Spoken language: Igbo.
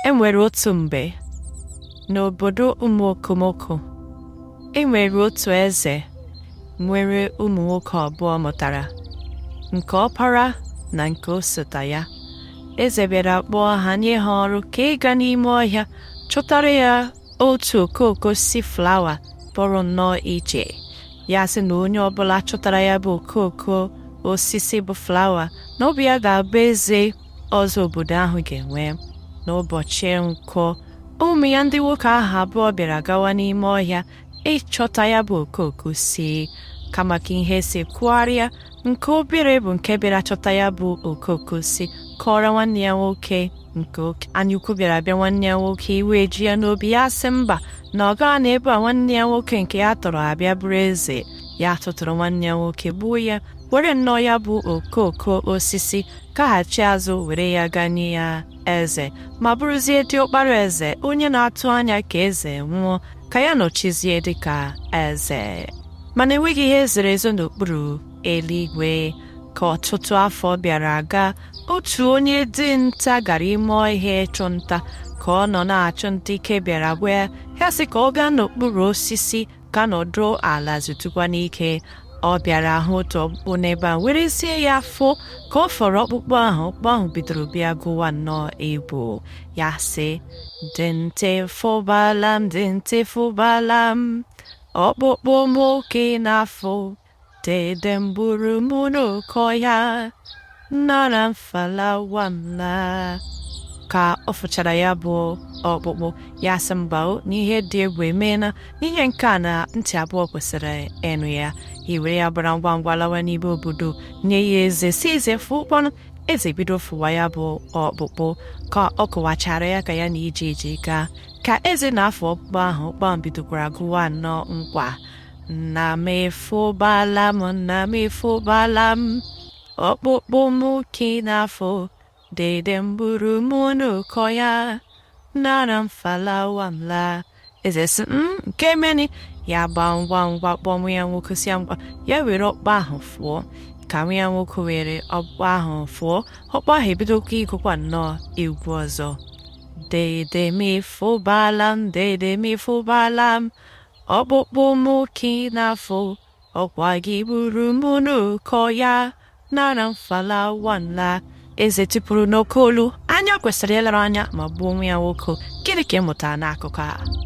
E nwere otu mgbe n'obodo ụmụ okomoko e nwere otu eze nwere ụmụ nwoke abụọ mụtara nke ọpara na nke osota ya eze bịara kpọọ ha nye ha ọrụ ka ịga n'ime ọhịa chọtara ya otu okooko osisi flawa pụrụ nnọọ iche ya sị na onye ọbụla chọtara ya bụ okooko osisi bụ flawa na ọ bụ ya ga-abụ eze ọzọ obodo ahụ ga-enwe n'ụbọchị nkwọ ụmụ ya ndị nwoke ahụ abụọ bịara gawa n'ime ọhịa ịchọta ya bụ okooko osisi kama ka ihe si kwụgharịa nke obere bụ nke bịara chọta ya bụ okooko osisi kọọrọ nwanne ya nwoke nke oke anyaukwu bịara bịa nwanne ya nwoke iwe eju ya n'obi ya sị mba na ọ gaghị anọ ebe a nwanne ya nwoke nke ya tọrọ abịa bụrụ eze ya tụtụrụ nwanne ya nwoke gbuo ya were nnọọ ya bụ okooko osisi gaghachi azụ were ya gaa nye ya eze ma bụrụzie diọkpara eze onye na-atụ anya ka eze nwụọ ka ya nọchizie dịka eze mana enweghị ihe zoro ezo n'okpuru eluigwe ka ọtụtụ afọ bịara gaa otu onye dinta gara ime ọhịa ịchụ nta ka ọ nọ na-achụ nta ike bịara gwụ ya sị ka ọ gaa n'okpuru osisi ka ọ nọdụ ala zutukwanụ ike ọ bịara hụ otu ọkpụkpụ n'ebe ahụ were sị ya fụọ ka ọ fụrụ ọkpụkpụ ahụ ọkpụkpụ ahụ bidoro bịa gụwa nnọọ egwu ya sị dinta ị fụbala m dinta ị fụbala m ọkpụkpụ m ka ị na-afụ Dede m gburu m n'oke ọhịa nara m flawa m laa ka ọ fụchara ya bụ ọkpụkpụ ya sị mba o na ihe dị egwu emeela na ihe nke a na ntị abụọ kwesịrị ịnụ ya ewere ya gbara ngwa ngwa lawa n'ime obodo nye ya eze sị eze fụọ ọkpụkpụ ahụ eze bido fụwa ya bụ ọkpụkpụ ka ọ kọwachaara ya ka ya na ije ije gaa ka eze na-afụ ọkpụkpụ ahụ ọkpụkpụ bidokwara gụwa nnọọ nkwa nna m ị fụbala m nna m ị fụbala m ọkpụkpụ m ka ị na-afụ dede m gburu m n'oke ọhịa nara m flawa m laa eze sị m nke meni ya gbaa ngwa ngwa kpọọ nwa ya nwoke sị ya ngwa ya were ọkpụkpụ ahụ fụọ ka nwa ya nwoke were ọkpụkpụ ahụ fụọ ọkpụkpụ ahụ ebidokwa ịgụkwa nnọọ egwu ọzọ dede m ị fụbala m dede m ị fụbala m ọkpụkpụ m ka ị na-afụ ọkwa gị gburu m n'oke ọhịa nara m flawa m laa eze tipuru n'oke olu anya kwesịrị ileru anya ma gbuo nwa ya nwoke gịnị ka ị mụtara n'akụkọ a